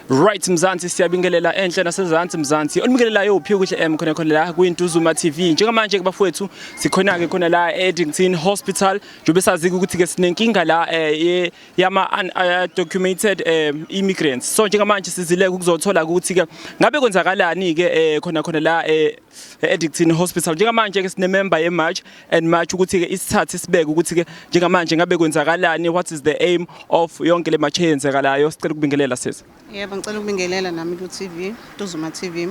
Right Mzansi siyabingelela enhle nasezansi Mzansi onibingelelayo uphi ukuthi em eh, khona khona la kuyiNtuzuma TV njengamanje ke bafowethu sikhona ke khona la eEddington Hospital njobe sazi ukuthi ke sinenkinga la eh, yama undocumented eh, immigrants so njengamanje sizile ukuzothola ukuthi ke ngabe kwenzakalani ke khona khona la e-Addictine Hospital njengamanje ke sinemember yeMarch and March ukuthi ke isithathe sibeke ukuthi ke njengamanje ngabe kwenzakalani what is the aim of yonke le march eyenzekalayo sicela ukubingelela sisi yebo ngicela ukubingelela nami ku TV Duzuma TV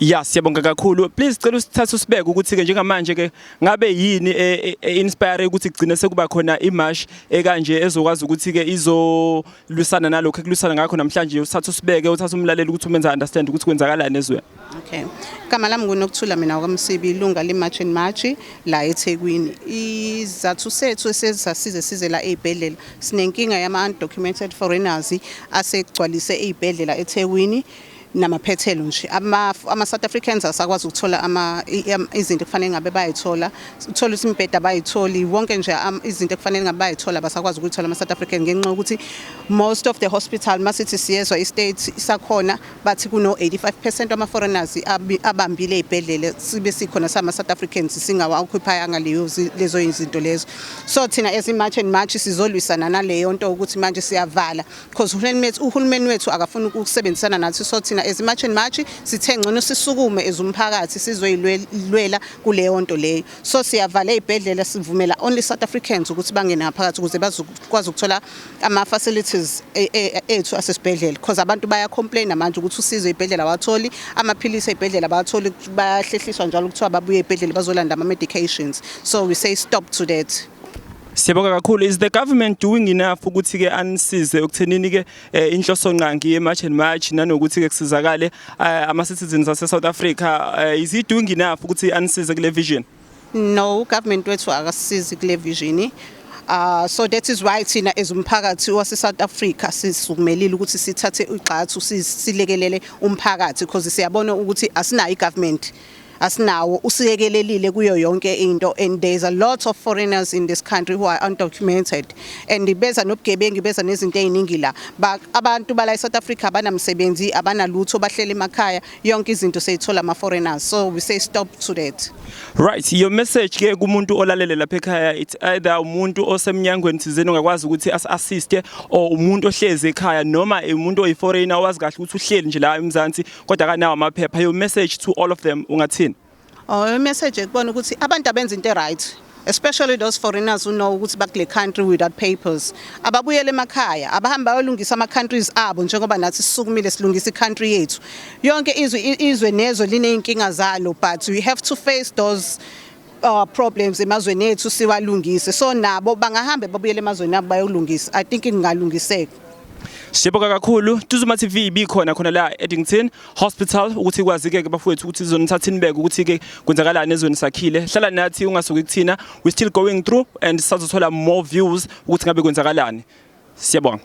Ya siyabonga kakhulu please cela usithathe usibeke ukuthi ke njengamanje ke ngabe yini e, e, e inspire ukuthi kugcine sekuba khona imarsh ekanje ezokwazi ukuthi ke izolwisana nalokho ekulwisana ngakho namhlanje usithathe usibeke uthathe umlaleli ukuthi umenza understand ukuthi kwenzakalani ezweni Okay. Igama lami nguNokuthula mina wakwamsibi ilunga leMarch and March la eThekwini. Izathu sethu esesasize size la ezibhedlela sinenkinga yama undocumented foreigners asegcwalise ezibhedlela eThekwini namaphethelo nje ama ama South Africans asakwazi ukuthola ama izinto kufanele ngabe bayithola uthola ukuthi imbheda bayitholi wonke nje izinto kufanele ngabe bayithola basakwazi ukuthola ama South African ngenxa ukuthi most of the hospital masithi siyezwa i state isakhona bathi kuno-85 percent wama-foreigners abambile ey'bhedlela sibe sikhona sama-south africans singawakhwiphayanga lezo izinto lezo so thina as i-march and march sizolwisana naleyo nto ukuthi manje siyavala because uhulumeni wethu akafuni ukusebenzisana nathi so thina as i-march and march sithe ngcono sisukume as umphakathi sizoyilwela kuleyo nto leyo so siyavala ey'bhedlela sivumela only south africans ukuthi bangene ngaphakathi ukuze bazokwazi ukuthola ama facilities e, e, ethu asesibhedlela because abantu baya complain manje ukuthi usizo ibhedlela watholi amaphilisi ebhedlela bawatholi bahlehliswa njalo kuthiwa babuye ebhedlela bazolanda ama medications so we say stop to that Siyabonga kakhulu is the government doing enough ukuthi ke anisize ukuthenini ke eh, inhloso nqangi ye March and March nanokuthi ke kusizakale eh, ama citizens ase South Africa eh, is he doing enough ukuthi anisize kule vision No, ugovernment wethu akasisizi kule vision. Uh, so that is why thina as umphakathi waseSouth Africa sisukumelile ukuthi sithathe igxathu silekelele umphakathi because siyabona ukuthi asinayo igovernment asinawo usiyekelelile kuyo yonke into and there is a lot of foreigners in this country who are undocumented and beza nobugebengu beza nezinto eziningi la abantu bala eSouth Africa abanamsebenzi abanalutho bahlele emakhaya yonke izinto seyithola ama foreigners so we say stop to that right your message ke kumuntu olalele lapha ekhaya it's either umuntu osemnyangweni thizeni ongakwazi ukuthi as assiste or umuntu ohlezi ekhaya noma umuntu oyi foreigner owazi kahle ukuthi uhleli nje la eMzansi kodwa kanawo amaphepha your message to all of them ungathini Oh, imessage ekubona ukuthi abantu abenza into right especially those foreigners who know ukuthi bakule country without papers ababuyele emakhaya abahambe bayolungisa ama countries abo njengoba nathi sisukumile silungisa icountry yethu yonke izwe izwe nezwe lineyinkinga zalo but we have to face those uh, problems emazweni ethu siwalungise so nabo bangahambe babuyele emazweni abo bayolungisa i think kungalungiseka Siyabonga kakhulu Tuzuma TV ibikhona khona la Eddington Hospital ukuthi kwazi ke bafowethu ukuthi sizonithatha inibeke ukuthi ke kwenzakalani ezweni sakhile hlala nathi ungasuki kuthina we still going through and sizothola more views ukuthi ngabe kwenzakalani siyabonga